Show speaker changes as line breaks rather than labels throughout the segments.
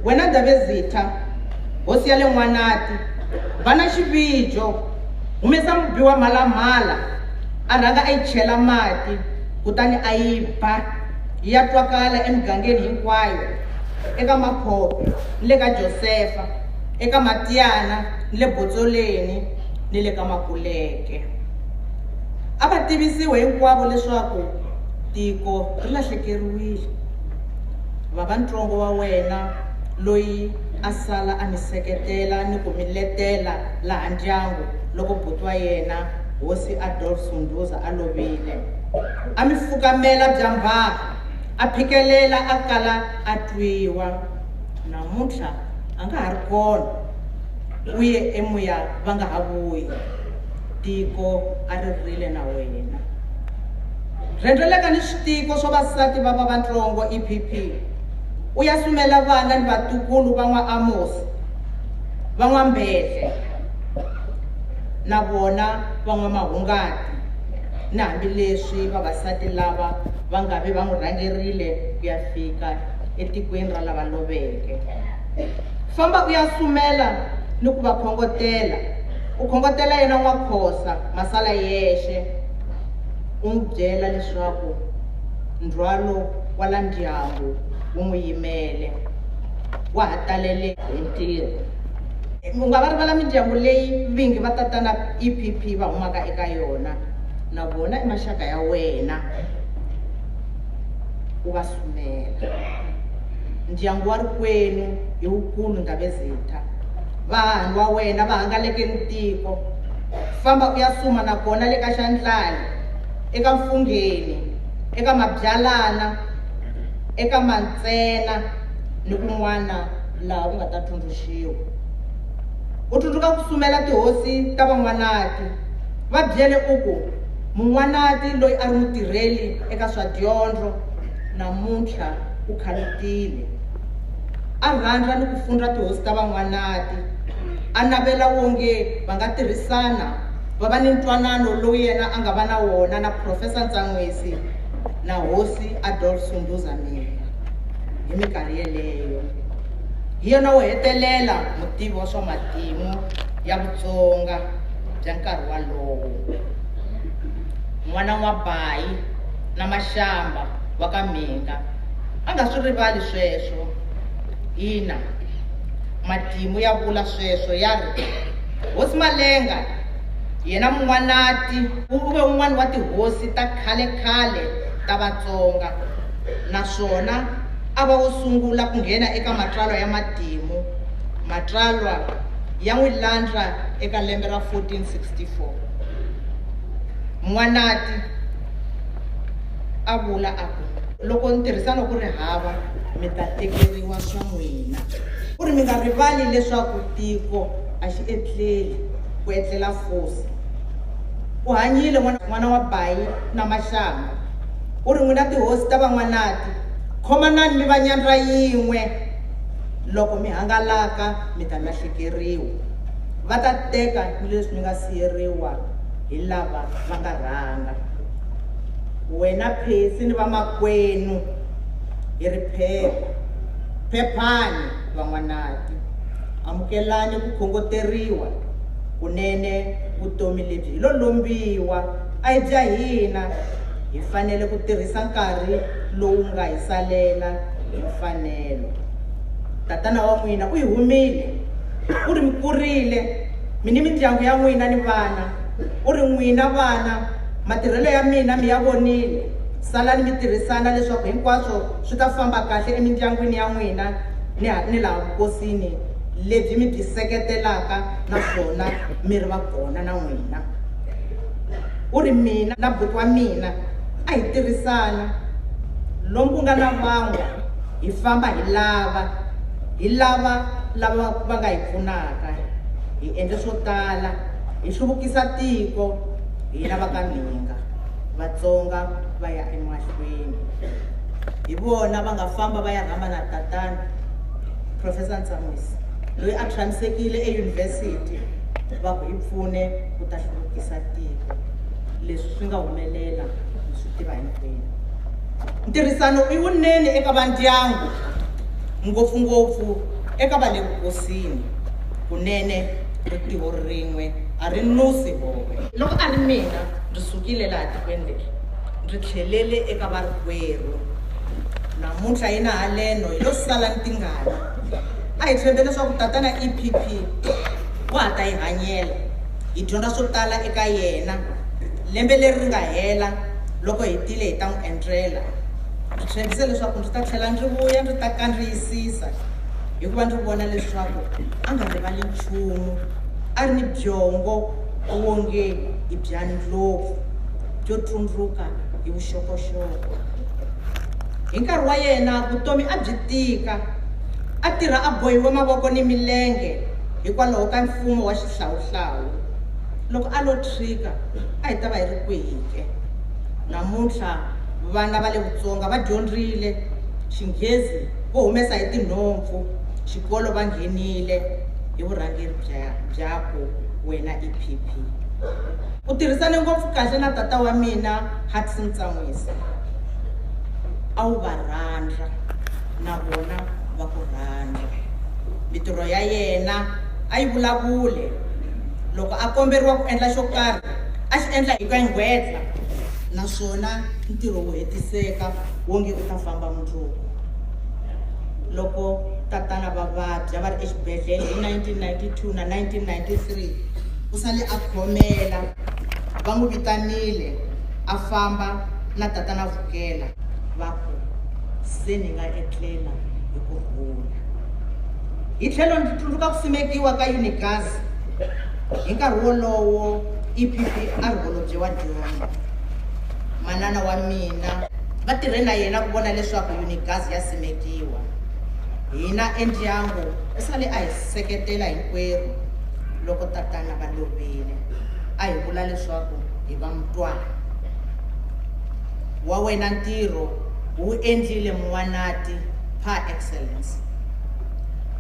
Wena Ndabezitha, hosi ya le N'wanati, va na xivijo, humesa mubi wa mhalamhala, a rhanga a yi chela mati, kutani a yi ba, yi ya twakala emigangeni hinkwayo, eka makhope, ni le ka Josefa, eka matiyana, ni le botsoleni, ni le ka makuleke. A va tivisiwe hinkwavo leswaku tiko ri lahlekeriwile. Vava-ntsongo wa wena loyi a sala a mi seketela ni ku mi letela laha ndyangu loko buti wa yena, Hosi Adolf Sunduza, a lovile. A mi fukamela byambhaha, a phikelela a kala a twiwa. Namuntlha a nga ha ri kona, u ye emuya va nga ha vuyi. tiko a ri rhile na wena. Rhendzeleka ni switiko swa vasati va va vantsongo, EPP, u ya sumela vana ni vatukulu va n'wa Amosi, va n'wa Mbhehle, na vona va n'wa Mahungati, ni hambi leswi vavasati lava va nga ve va n'wi rhangerile ku ya fika etikweni ra lava loveke. Famba u ya sumela ni ku va khongotela. U khongotela yena N'wakhosa Masala yexe, u n'wi byela leswaku ndzhwalo wa la ndyangu wu n'wi yimele, wa ha talele hi ntirho. U nga va rivala mindyangu leyi vingi va tatana EPP va humaka eka yona, na vona i maxaka ya wena, u va sumela. Ndyangu wa ri kwenu i wukulu Ndabezitha. vahanu wa wena va hangaleke ni tiko. Famba u ya suma na kona le ka xandlani, eka mfungheni, eka mabyalana, eka mantsena ni kun'wana laha u nga ta tsundzuxiwa. U tsundzuka ku sumela tihosi ta van'wanati, va byele u ku, Mun'wanati loyi a ri mutirheli eka swa dyondzo namuntlha u khalutile. A rhandza ni ku fundza tihosi ta Van'wanati. A navela wonge va nga tirhisana va va ni ntwanano lowu yena a nga va na wona na Profesa Ntsan'wisi na Hosi Adolf Sunduza Mina hi mikarhi yeleyo. Hi yena wo hetelela mutivi wa swa matimu ya Vutsonga bya nkarhi walowo. N'wana N'wabayi na Mashamba wa ka Mhinga. a nga swi rivali sweswo. Ina, matimu ya vula sweswo ya ri, Hosi Malenga, yena Mun'wanati, u ve un'wana wa tihosi ta khale-khale ta Vatsonga naswona a va wo sungula ku nghena eka matsalwa ya matimu, matsalwa ya n'wi landza eka lembe ra 1464. Mun'wanati. a vula a ku. Loko ntirhisano ku ri hava, mi ta tekeriwa swa n'wina. U ri, Mi nga rivali leswaku tiko a xi etleli, ku etlela fosi. U hanyile, n'wana, n'wana wa bayi na maxanga. U ri, N'wina tihosi ta van'wanati, khomanani mi va nyandza yin'we. Loko mi hangalaka, mi ta lahlekeriwa. Va ta teka ni leswi mi nga siyeriwa hi lava va nga rhanga. wena Phesi ni vamakwenu hi ri phepha. Phephani, van'wanati. Amukelani ku khongoteriwa kunene vutomi lebyi hi lo lombiwa a hi bya hina. Hi fanele ku tirhisa nkarhi lowu nga hi salela hi mfanelo. Tatana wa n'wina u hi humile, u ri mi kurile, mi ni mindyangu ya n'wina ni vana, u ri n'wina vana, Matirhelo ya mina mi ya vonile. Salani mi tirhisana leswaku hinkwaswo swi ta famba kahle emindyangwini ya n'wina ni ni laha vukosini lebyi mi byi seketelaka naswona mi ri va kona na n'wina. U ri, Mina na buti wa mina a hi tirhisana. Lomu ku nga na vangwa, hi famba hi lava, hi lava lava va nga hi pfunaka. Hi endle swo tala, hi hluvukisa tiko. hina va ka Mhinga, Vatsonga va ya emahlweni. Hi vona va nga famba va ya rhamba na tatana Professor Ntsamwisi loyi a tshamisekile eyunivhesiti va ku hi pfune ku ta hluvukisa tiko. Leswi swi nga humelela hi swi tiva hinkwenu. Ntirhisano i wunene eka vandyangu ngopfungopfu eka va le vukosini kunene ri tiho rin'we a ri nusi vohe. Loko a ri mina, ndzi sukile laha tikweni leri, ndzi tlhelele eka varikwerhu. Namuntlha hi na haleno hi lo sala ni tingana. A hi tshembe leswaku Tatana EPP wa ha ta hi hanyela, hi dyondza swo tala eka yena. Lembe leri ri nga hela, loko hi tile hi ta n'wi entlela. Ndzi tshembise leswaku ndzi ta tlhela ndzi vuya ndzi ta kandziyisisa, hikuva ndzi vona leswaku a nga rivali nchumu. a ri ni byongo wonge i bya ndlopfu byo tsundzuka hi vuxokoxoko. Hi nkarhi wa yena vutomi a byi tika, a tirha a bohiwe mavoko ni milenge hikwalaho ka mfumo wa xihlawuhlawu. Loko a lo tshwika a hi ta va hi ri kwihi ke? Namuntlha vana va le Vutsonga va dyondzile Xinghezi vo humesa hi tinhompfu, xikolo va nghenile, hi vurhangeri bya byakwe wena EPP. U tirhisane ngopfu kahle na tata wa mina Hudson Tsamwisa. A wu va rhandza na vona va ku rhandza. Mitirho ya yena a yi vulavule. Loko a komberiwa ku endla xo karhi a xi endla hi ku enghwetla naswona ntirho wu hetiseka wonge u ta famba mundzuku. loko tatana va vabya va ri exibedhlele hi 1992 na 1993 u sale a khomela va n'wi vitanile a famba na tatana vukela va ku se ni nga etlela hi ku rhula hi tlhelo ndzi tsundzuka ku simekiwa ka unigas hi nkarhi wolowo epp a ri holobye wa dyondzo manana wa mina Va tirhe na yena ku vona leswaku Yunigazi ya simekiwa. Hina endyangu hi sale a hi seketela hinkwerhu loko tatana va lovile. A hi vula leswaku hi va mutwana. Wa wena ntirho u wu endlile Muwanati par excellence.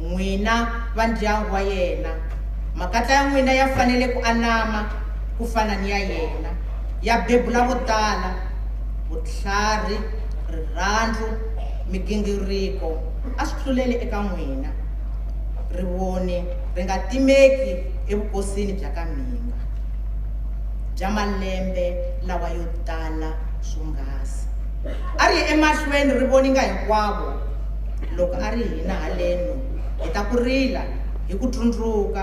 N'wina va ndyangu wa yena, makatla ya n'wina ya fanele ku anama ku fana ni ya yena, ya bebula vo tala. vutlhari, rirhandzu, migingiriko a swi tluleli eka n'wina. Rivoni ri nga timeki evukosini bya ka mhinga bya malembe lawa yo tala swonghasi. A ri ye emahlweni ri voninga hinkwavo loko a ri hina haleno hi ta ku rila hi ku tsundzuka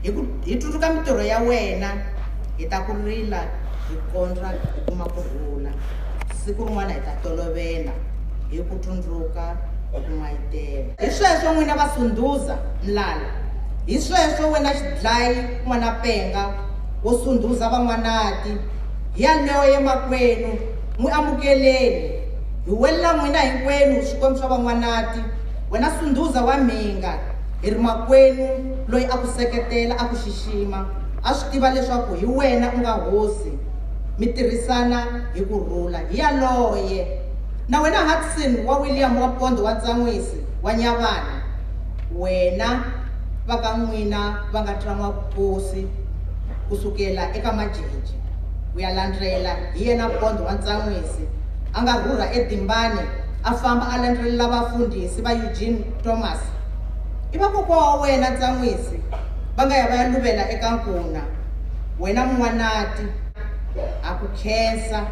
hi ku hi tsundzuka mitirho ya wena hi ta ku rila hi kondza hi kuma ku rhula siku rin'wana hi ta tolovela hi ku tsundzuka ku n'wayitela hi sweswo n'wina va sundhuza mlala hi sweswo wena xidlayi n'wana penga wo sundhuza van'wanati hi yaleyo yemakwenu n'wi amukeleni hi welela n'wina hinkwenu swikwembu swa van'wanati wena sundhuza wa mhinga hi ri makwenu loyi a ku seketela a ku xixima Xima, a swi tiva leswaku hi wena u nga hosi, mi tirhisana hi ku rhula. Hi yaloye, na wena Hudson wa William wa Pondo wa Ntsan'wisi wa Nyavana, wena va ka n'wina va nga tlan'wa vukosi ku sukela eka Majeje ku ya landlela, hi yena Pondo wa Ntsan'wisi a nga rhurha eDimbane a famba a landzelela vafundhisi va Eugene Thomas. I vakokwa wa wena Ntsan'wisi. va nga ya va ya luvela eka nkuna, Wena Mun'wanati, ha ku khensa,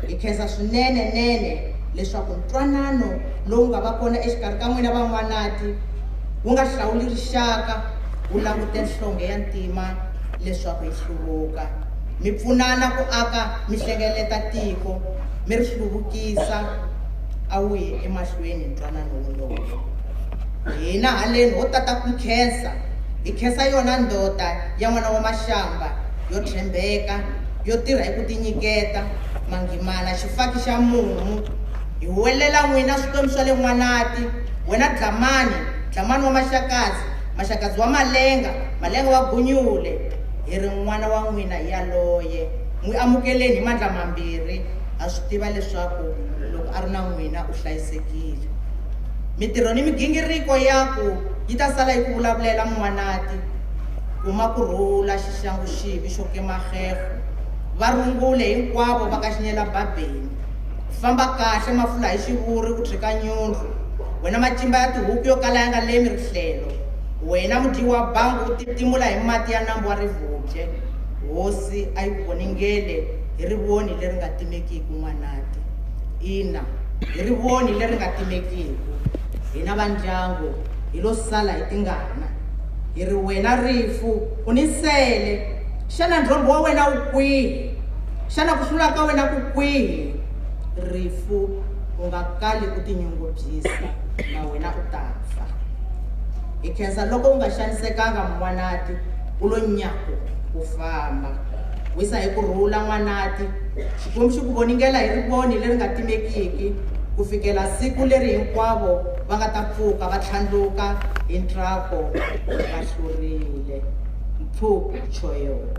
hi khensa swinene-nene leswaku ntwanano lowu nga va kona exikarhi ka n'wina van'wanati wu nga hlawuli rixaka, wu langute nhlonghe ya ntima leswaku yi hluvuka. Mi pfunana ku aka, mi hlengeleta tiko, mi ri hluvukisa. A wu yi emahlweni ntwanano wolowo. Hina haleni ho tata ku nkhensa. Hi khensa yona ndoda ya n'wana wa Mashamba yo tshembeka, yo tirha hi ku tinyiketa, Mangimana xifaki xa mumu. Hi huwelela n'wina swikwembu swa le N'wanati, wena Dlamani, Dlamani wa Maxakadzi, Maxakadzi wa Malenga, Malenga wa Gunyule, hi ri n'wana wa n'wina hi yaloye. N'wi amukeleni hi mandla mambirhi, ha swi tiva leswaku loko a ri na n'wina u hlayisekile. Mitirho ni migingiriko yaku yi ta sala yi ku vulavulela Muwanati, Kuma ku rhula xixangu xivi xo kema xefo, va rungule hinkwavo va ka Xinyela-babeni. Famba kahle mafula hi xivuri u tshwika nyundlu, wena macimba ya tihuku yo kala ya nga lemi rihlelo, wena mudyi wa bangu u titimula hi mati ya nambu wa rivubye. Hosi a yi ku voningele hi rivoni leri nga timekiki, N'wanati. Ina, hi rivoni leri nga timekiku, hina va ndyangu hi lo sala hi tingana. Hi ri, Wena rifu, u ni nsele! Xana ndlhombho wa wena wu kwihi? Xana ku hlula ka wena ku kwihi? Rifu, u nga kali u tinyungubyisa, na wena u ta fa. Hi khensa loko u nga xanisekanga, N'wanati, u lo nyaku ku famba. Wisa hi ku rhula, N'wanati. Xikombiso, ku voningela hi rivoni leri nga timekiki ku fikela siku leri hinkwavo va nga ta pfuka va tlhandluka hi ntsako va hlurile. Mpfuku, Choeul.